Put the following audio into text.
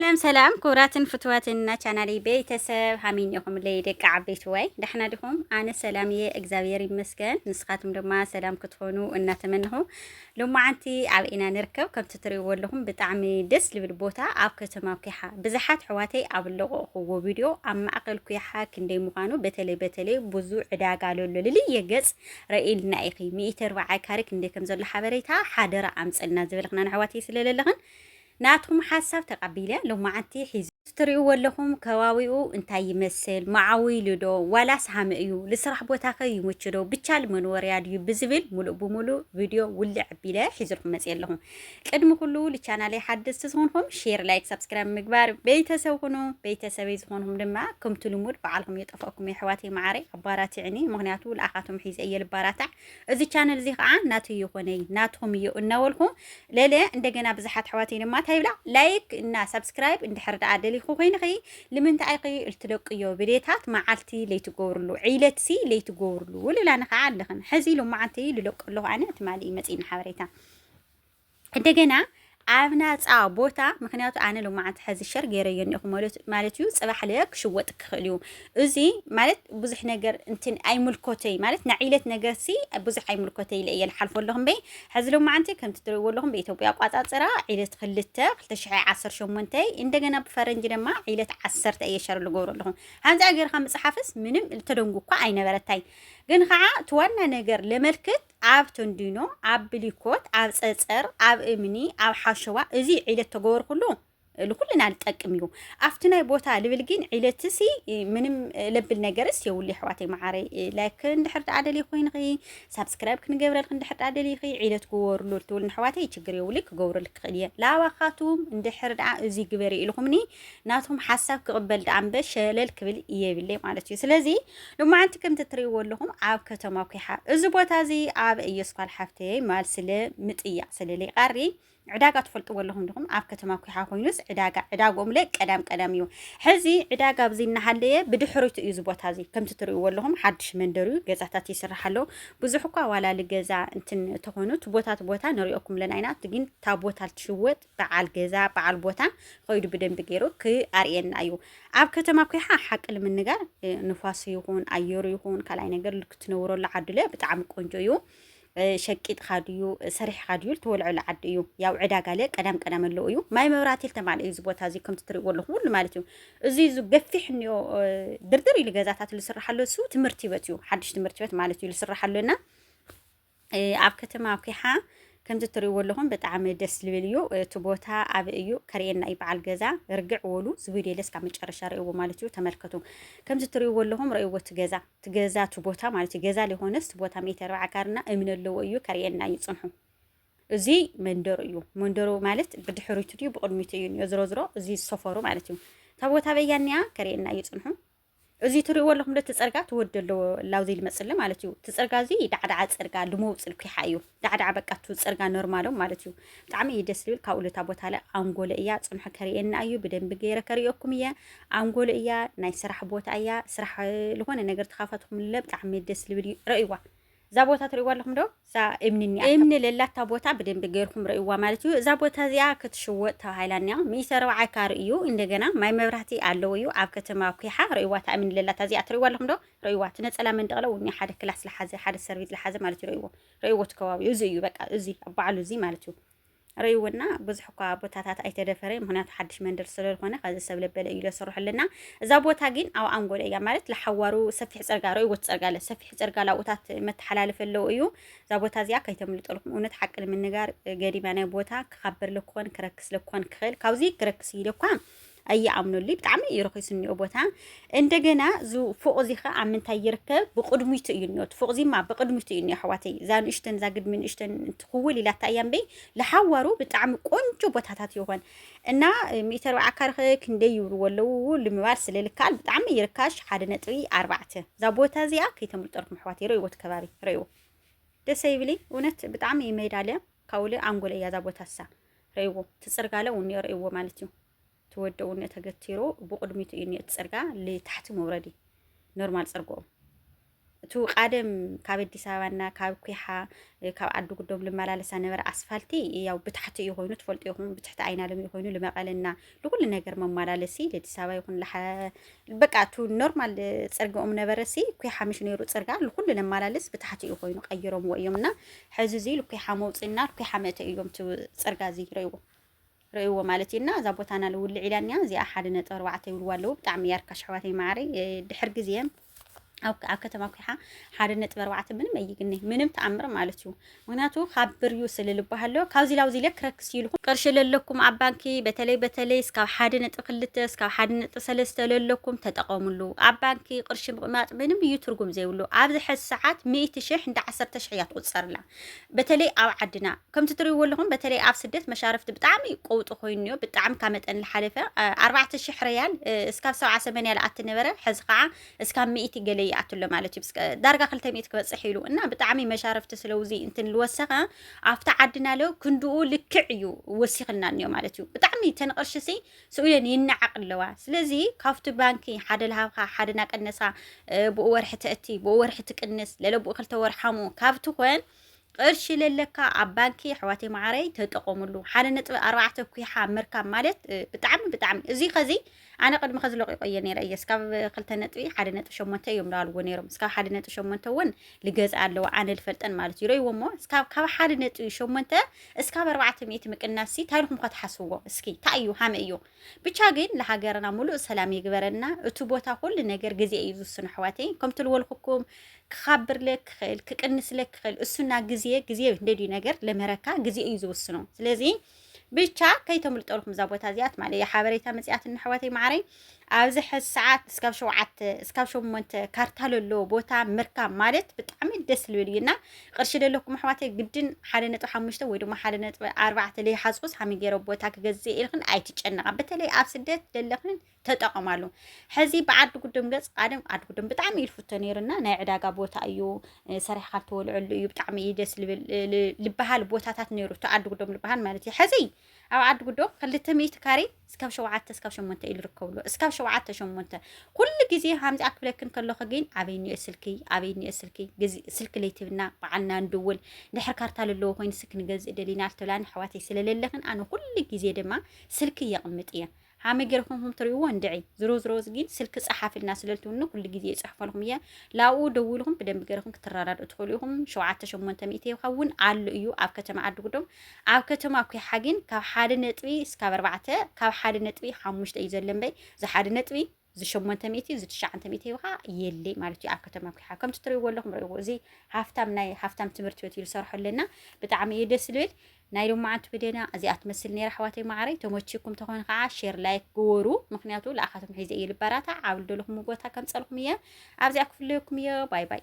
ሰላም ሰላም ክቡራትን ፍትዋትን እና ቻናሊ ቤተሰብ ሃሚን ኢኹም ለይ ደቂ ዓበይቲ ወይ ዳሕና ዲኹም? ኣነ ሰላም እየ እግዚኣብሔር ይመስገን። ንስኻትኩም ድማ ሰላም ክትኾኑ እናተመንኹ ሎማዓንቲ ኣብ ኢና ንርከብ ከምቲ ትሪእዎ ኣለኹም ብጣዕሚ ደስ ልብል ቦታ ኣብ ከተማ ኩሓ ብዙሓት ሕዋተይ ኣብ ለቆቕኹዎ ቪድዮ ኣብ ማእኸል ኩሓ ክንደይ ምዃኑ በተለይ በተለይ ብዙ ዕዳጋ ለሎ ልልየ ገፅ ረኢልና ኢኺ ሚእቲ ኣርባዓ ካሬ ክንደይ ከም ዘሎ ሓበሬታ ሓደራ ኣምፀልና ዝበልኽና ንሕዋተይ ስለለለኽን ናትኩም ሓሳብ ተቀቢለ ሎማዓንቲ ሒዙ። እዚ ትሪእዎ ኣለኹም ከባቢኡ እንታይ ይመስል መዓዊሉ ዶ ዋላስ ሃመ እዩ ልስራሕ ቦታኸ ይምቹ ዶ ብቻ ልመንወርያ ድዩ ብዝብል ሙሉእ ብሙሉእ ቪድዮ ውልዕ ኣቢለ ሒዝልኩም መፅየ ኣለኹ ቅድሚ ኩሉ ልቻናለይ ሓደስቲ ዝኾንኹም ሼር ላይክ ሳብስክራይብ ምግባር ቤተሰብ ኩኑ ቤተሰበይ ዝኾንኹም ድማ ከምቲ ልሙድ በዓልኹም የጠፍኣኩም የሕዋተይ መዓረይ ኣባራትዕኒ ምክንያቱ ልኣኻቶም ሒዘ እየ ልባራታዕ እዚ ቻነል እዚ ከዓ ናተይ ይኾነይ ናትኹም እዩ እናበልኩ ለለ እንደገና ብዙሓት ኣሕዋተይ ድማ እንታይ ይብላ ላይክ እና ሳብስክራይብ እንድሕር ደኣ ደሊኹ ኮይንኺ ልምንታይ ኢኺ እልትለቅዮ ብሌታት መዓልቲ ለይትገብርሉ ዒለትሲ ለይትገብርሉ ውልላኒ ከዓ ኣለኽን ሕዚ ሎመዓንቲ ልለቀ ኣለኹ ኣነ ትማሊ እዩ መፂእኒ ሓበሬታ እንደገና ኣብ ናፃ ቦታ ምክንያቱ ኣነ ሎማዓንቲ ሕዚ ሸር ገይረዮ እኒኹ ማለት እዩ ፅባሕ ለ ክሽወጥ ክኽእል እዩ እዚ ማለት ብዙሕ ነገር እንትን ኣይምልኮተይ ማለት ናይ ዒለት ነገር ሲ ብዙሕ ኣይምልኮተይ ኢለ እየ ልሓልፎ ኣለኹ እምበይ ሕዚ ሎማዓንቲ ከምቲ ትሪእዎ ኣለኹም ብኢትዮጵያ ኣቋፃፅራ ዒለት ክልተ ክልተ ሽሕ ዓሰርተ ሸሞንተ እንደገና ብፈረንጂ ድማ ዒለት ዓሰርተ እየ ሸር ልገብሮ ኣለኹ ሃንፃ ገይርካ ምፅሓፍስ ምንም ተደንጉ እኳ ኣይነበረታይ ግን ከዓ እቲ ዋና ነገር ለመልክት ኣብ ተንዲኖ፣ ኣብ ብሊኮት፣ ኣብ ጸጸር፣ ኣብ እምኒ፣ ኣብ ሓሸዋ እዚ ዒለት ተገበርኩሉ ልኩልና ልጠቅም እዩ ኣብቲ ናይ ቦታ ልብል ግን ዒለትሲ ምንም ለብል ነገርስ የብሉ የሕዋተይ መዓረይ ላይክ እንድሕር ደኣ ደልይ ኮይንኺ ሳብስክራይብ ክንገብረልክ እንድሕር ደኣ ደልይኺ ዒለት ግበርሉ ልትብል ንሕዋተይ ችግር የብሉ ክገብረልክ ክእል እየ ላባኻቱም እንድሕር ደኣ እዚ ግበሪ ኢልኹምኒ ናቶም ሓሳብ ክቕበል ደኣ እምበ ሸለል ክብል የብለይ ማለት እዩ ስለዚ ሎማዓንቲ ከምቲ ትሪእዎ ኣለኹም ኣብ ከተማ ኩሓ እዚ ቦታ እዚ ኣብ እየስኳል ሓፍተይ ማል ስለ ምጥያቅ ስለ ሊቃሪ ዕዳጋ ትፈልጥዎ ኣለኹም ድኹም ኣብ ከተማ ኩሓ ኮይኑስ ዕዳጋ ዕዳግኦም ለ ቀዳም ቀዳም እዩ ሕዚ ዕዳጋ ኣብዚ እናሃለየ ብድሕሪቱ እዩ እዚ ቦታ እዚ ከምቲ ትሪእዎ ኣለኹም ሓድሽ መንደር እዩ ገዛታት ይስራሕ ኣሎ ብዙሕ እኳ ዋላሊ ገዛ እንትን ተኾኑ እቲ ቦታ እቲ ቦታ ንሪኦኩም ኣለና ኢና እቲ ግን እታ ቦታ ትሽወጥ በዓል ገዛ በዓል ቦታ ኸይዱ ብደንቢ ገይሩ ክኣርየና እዩ። ኣብ ከተማ ኮይሓ ሓቂ ንምንጋር ንፋሱ ይኹን ኣየሩ ይኹን ካልኣይ ነገር ክትነብረሉ ዓዲ ለ ብጣዕሚ ቆንጆ እዩ። ሸቂጥካ ድዩ ሰሪሕካ ድዩ ልትወልዐሉ ዓዲ እዩ ያው ዕዳጋ ለ ቀዳም ቀዳም ኣለዎ እዩ ማይ መብራህቲ ልተማልአ እዩ እዚ ቦታ እዚ ከምቲ ትሪእዎ ኣለኹ ኩሉ ማለት እዩ እዚ እዚ ገፊሕ እኒኦ ድርድር ኢሉ ገዛታት ልስራሕ ኣሎ እሱ ትምህርቲ በት እዩ ሓድሽ ትምህርቲ በት ማለት እዩ ልስራሕ ኣሎና ኣብ ከተማ ኩሓ ከምዚ ትርእይዎ ኣለኹም ብጣዕሚ ደስ ዝብል እዩ እቲ ቦታ ኣብ እዩ ከርእየና እዩ በዓል ገዛ ርግዕ ወሉ ዝቪድዮ እስካብ መጨረሻ ርእይዎ ማለት እዩ ተመልከቱ ከምዚ ትርእይዎ ኣለኹም ርእይዎ እቲ ገዛ እቲ ገዛ እቲ ቦታ ማለት እዩ ገዛ ሊኾነስ እቲ ቦታ ሜተ ኣርብዓ ካርና እምኒ ኣለዎ እዩ ከርእየና እዩ ፅንሑ እዚ መንደሩ እዩ መንደሩ ማለት ብድሕሪቱ ድዩ ብቅድሚቱ እዩ ዝሮ ዝሮ እዚ ሰፈሩ ማለት እዩ እታ ቦታ በያኒያ ከርእየና እዩ ፅንሑ እዚ ትርእይዎ ኣለኹም ዶ እቲ ጽርጋ እቲ ወዲ ኣሎ ላውዚ ልመጽሊ ማለት እዩ። እቲ ጽርጋ እዚ ዳዕዳዓ ጽርጋ ልሙው ጽልኲሓ እዩ። ዳዕዳዓ በቃ እቲ ጽርጋ ኖርማሎም ማለት እዩ። ብጣዕሚ እዩ ደስ ልብል ካብኡ ልታ ቦታ ለ ኣንጎሎ እያ ጽንሖ ከርእየና እዩ ብደንቢ ገይረ ከርእየኩም እየ። ኣንጎሎ እያ ናይ ስራሕ ቦታ እያ ስራሕ ልኾነ ነገር ተኻፋትኩም ለ ብጣዕሚ ደስ ልብል እዩ ረእይዋ። እዛ ቦታ ትርእይዋ ኣለኹም ዶ እዛ እምኒ እኒኣ እምኒ ለላታ ቦታ ብደንቢ ገይርኩም ረእይዋ ማለት እዩ እዛ ቦታ እዚኣ ክትሽወጥ ተባሂላ እኒኣ ሚእቲ ኣርብዓ ካር እዩ እንደገና ማይ መብራህቲ ኣለዎ እዩ ኣብ ከተማ ኩሓ ረእይዋ እታ እምኒ ለላታ እዚኣ ትርእይዋ ኣለኹም ዶ ረእይዋ እቲ ነፀላ መንደቕለ እውን እኒኣ ሓደ ክላስ ለሓዘ ሓደ ሰርቪስ ለሓዘ ማለት እዩ ረእይዎ ረእይዎ እቲ ከባቢኡ እዚ እዩ በቃ እዚ ኣብ ባዕሉ እዚ ማለት እዩ ርእይዎና ብዙሕ እኳ ቦታታት ኣይተደፈረ ምክንያቱ ሓድሽ መንደር ስለዝኾነ ከዚ ሰብ ለበለ እዩ ለስርሑልና እዛ ቦታ ግን ኣብ ኣንጎሎ እያ ማለት ለሓዋሩ ሰፊሕ ፅርጋ ርእይዎት ፅርጋ ኣለ ሰፊሕ ፅርጋ ላብኡታት መተሓላለፈ ኣለዉ እዩ እዛ ቦታ እዚኣ ከይተምልጠልኩም እውነት ሓቂ ንምንጋር ገዲማ ናይ ቦታ ክኻበር ለክኾን ክረክስ ለክኾን ክኽእል ካብዚ ክረክስ እዩ ለኳ ኣይኣምኑልይ ብጣዕሚ እዩ ርኺስ እኒኦ ቦታ እንደገና እዚ ፎቕ እዚ ከዓ ኣብ ምንታይ ይርከብ ብቕድሚቱ እዩ እኒኦ እቲ ፎቕ እዚማ ብቕድሚቱ እዩ እኒኦ ኣሕዋተይ እዛ ንእሽተን እዛ ግድሚ ንእሽተን ትኽውል ኢላታ እያ እምበይ ለሓዋሩ ብጣዕሚ ቆንጆ ቦታታት ይኾን እና ሚእቲ ኣርባዓ ካርኸ ክንደይ ይብልዎ ኣለዉ ልምባል ስለ ልከኣል ብጣዕሚ ይርካሽ ሓደ ነጥቢ ኣርባዕተ እዛ ቦታ እዚኣ ከይተምልጠልኩም ኣሕዋት ይረእይዎ እቲ ከባቢ ረእይዎ ደሰ ይብልይ እውነት ብጣዕሚ ይመይዳለ ካውለ ኣንጎለ እያ እዛ ቦታ እሳ ርእይዎ እቲ ጽርጋለ እውን እኒኦ ርእይዎ ማለት እዩ እቲ ወዲ እውን እኒኦ ተገቲሩ ብቕድሚቱ እዩ እኒኦ እቲ ጽርጋ ልታሕቲ መውረዲ ኖርማል ጽርግኡ እቲ ቃደም ካብ ኣዲስ ኣበባና ካብ ኩሓ እ፣ ካብ ዓዲ ጉዶም ልመላለሳ ነበረ ኣስፋልቲ ያው ብታሕቲ እዩ ኮይኑ ትፈልጡ ይኹም ብትሕቲ ኣይናለም እዩ ኮይኑ ልመቐለና ንኩሉ ነገር መማላለሲ ለዲስ ኣበባ ይኹን በቃ እቲ ኖርማል ፅርግኦም ነበረሲ እኩይ ሓምሽ ነይሩ ፅርጋ ንኩሉ ነማላልስ ብታሕቲ እዩ ኮይኑ ቀይሮምዎ እዮም እና ሕዚ እዚ ልኩይ ሓመውፅና ልኩይ ሓመተ እዮም እቲ ፅርጋ እዚ ረይዎ ርእይዎ ማለት እዩ እና እዛ ቦታና ልውልዕ ኢላኒያ እዚኣ ሓደ ነጥቢ ኣርባዕተ ይብልዋ ኣለዉ ብጣዕሚ እያ ርካሽ ኣሕዋተይ ማዕረይ ድሕር ግዜ ኣብ ከተማ ኩሓ ሓደ ነጥቢ ኣርባዕተ ምንም ኣይግነ ምንም ተኣምር ማለት እዩ። ምክንያቱ ካብ ብርዩ ስለልባሃሎ ካብዚ ላብዚ ኢለ ክረክስ ኢልኹ ቅርሺ ለለኩም ኣብ ባንኪ በተለይ በተለይ እስካብ ሓደ ነጥቢ ክልተ እስካብ ሓደ ነጥቢ ሰለስተ ለለኩም ተጠቐሙሉ። ኣብ ባንኪ ቅርሺ ምቕማጥ ምንም እዩ ትርጉም ዘይብሉ። ኣብዚ ሕዚ ሰዓት ሚእቲ ሽሕ እንዳ ዓሰርተ ሽሕ እያ ትቑፀርላ። በተለይ ኣብ ዓድና ከምቲ ትሪእዎ ኣለኹም በተለይ ኣብ ስደት መሻርፍቲ ብጣዕሚ ቆውጢ ኮይኑ እዮ ብጣዕሚ ካብ መጠን ዝሓለፈ ኣርባዕተ ሽሕ ርያል እስካብ ሰብዓ ሰመንያ ዝኣቲ ነበረ ሕዚ ከዓ እስካብ ሚእቲ ገለ ይኣቱ ኣሎ ማለት እዩ ዳርጋ ክልተ ሚእቲ ክበፅሕ ኢሉ እና ብጣዕሚ መሻርፍቲ ስለውዚ እንትን ዝወሰኸ ኣብቲ ዓድና ለ ክንድኡ ልክዕ እዩ ወሲኽና እኒኦ ማለት እዩ ብጣዕሚ ተንቕርሽሲ ስውየን ይነዓቅ ኣለዋ ስለዚ ካብቲ ባንኪ ሓደ ልሃብካ ሓደ ናቀነሳ ብኡ ወርሒ ተእቲ ብኡ ወርሒ ትቅንስ ለለብኡ ክልተ ወርሓሙ ካብቲ ኮን ቅርሺ ለለካ ኣብ ባንኪ ኣሕዋተይ መዓረይ ተጠቀምሉ ሓደ ነጥቢ ኣርባዕተ ኩሓ ምርካብ ማለት ብጣዕሚ ብጣዕሚ እዚ ከዚ ኣነ ቅድሚ ከዚ ለቂቆ እየ ነይረ እየ እስካብ ክልተ ነጥቢ ሓደ ነጥቢ ሸሞንተ እዮም ዳልዎ ነይሮም እስካብ ሓደ ነጥቢ ሸሞንተ እውን ልገዝኣ ኣለዋ ኣነ ልፈልጠን ማለት እዩ ረእይዎ እሞ እስካብ ካብ ሓደ ነጥቢ ሸሞንተ እስካብ ኣርባዕተ ሚእቲ ምቅናስ ሲ ታሪኹም ኳ ትሓስብዎ እስኪ እንታይ እዩ ሃመ እዩ ብቻ ግን ለሃገርና ሙሉእ ሰላም ይግበረና እቲ ቦታ ኩሉ ነገር ግዜ እዩ ዝውስኑ ኣሕዋተይ ከምቲ ልወልኩኩም ክኻብርለክ ክኽእል ክቅንስለክ ክኽእል እሱና ግዜ ግዜ እንደልዩ ነገር ለመረካ ግዜ እዩ ዝውስኑ ስለዚ ብቻ ከይተምልጠልኩም እዛ ቦታ እዚኣ ትማሊ ሓበሬታ መፅያትን ኣሕዋተይ መዓረይ ኣብዚ ሕዚ ሰዓት እስካብ ሸውዓተ እስካብ ሸሞንተ ካርታ ለለዎ ቦታ ምርካብ ማለት ብጣዕሚ ደስ ዝብል እዩ እና ቅርሺ ዘለኩም ኣሕዋተይ ግድን ሓደ ነጥቢ ሓሙሽተ ወይ ድማ ሓደ ነጥቢ ኣርባዕተ ዘይሓፅቡስ ሃመይ ገይረ ቦታ ክገዝእ ኢልክን ኣይትጨነቃ በተለይ ኣብ ስደት ዘለክን ተጠቐማሉ ሕዚ ብዓዲ ጉድም ገፅ ቃደም ዓዲ ጉድም ብጣዕሚ እዩ ዝፍቶ ነይሩና ናይ ዕዳጋ ቦታ እዩ ሰሪሕካ ትወልዐሉ እዩ ብጣዕሚ እዩ ደስ ልብል ልበሃል ቦታታት ነይሩ እቲ ዓዲ ጉዶም ልበሃል ማለት እዩ ሕዚ ኣብ ዓዲ ጉዶም ክልተ ሚእቲ ካሬ እስካብ ሸውዓተ እስካብ ሸሞንተ እዩ ዝርከብሉ እስካብ ሸውዓተ ሸሞንተ ኩሉ ግዜ ከምዚ ኣክብለክን ከለኹ ግን ኣበይ እኒኦ ስልኪ ኣበይ እኒኦ ስልኪ ስልኪ ለይትብና በዓልና ንድውል ድሕር ካርታ ዘለዎ ኮይኑ ስልኪ ንገዝእ ደሊና ልተብላኒ ኣሕዋተይ ስለለለኽን ኣነ ኩሉ ግዜ ድማ ስልኪ የቕምጥ እየ ሃመይ ገርኩም ከም ትሪእዎ እንድዒ ዝሮ ዝሮ ግን ስልኪ ጸሓፍልና ስለልትውኒ ኩሉ ግዜ ይጽሕፈልኩም እየ ላኡ ደውልኩም ብደንቢ ገርኩም ክትረዳድኡ ትኽእሉ ኢኹም ሸውዓተ ሸሞንተ ሚእቲ ይኸውን ኣሎ እዩ ኣብ ከተማ ዓድጉዶም ኣብ ከተማ ኩሓ ግን ካብ ሓደ ነጥቢ እስካብ ኣርባዕተ ካብ ሓደ ነጥቢ ሓሙሽተ እዩ ዘሎ እምበይ ዝሓደ ነጥቢ እዚ ሸሞንተ ሚእቲ እዚ ትሽዓንተ ሚእቲ ሂብኻ የለይ ማለት እዩ ኣብ ከተማ ኩሓ ከምቲ ትርእይዎ ኣለኹም ርእይዎ እዚ ሃፍታም ናይ ሃፍታም ትምህርቲ ቤት እዩ ዝሰርሖ ኣለና ብጣዕሚ እዩ ደስ ዝብል ናይ ሎማዓንቲ ብደና እዚኣ ትመስል ነይራ ኣሕዋተይ ማዕረይ ተመችኩም ተኾነ ከዓ ሼር ላይክ ግበሩ ምክንያቱ ልኣኻቶም ሒዘ እየ ልበራታ ዓብሉ ደለኹም ቦታ ከምፀልኹም እየ ኣብዚኣ ክፍለየኩም እየ ባይ ባይ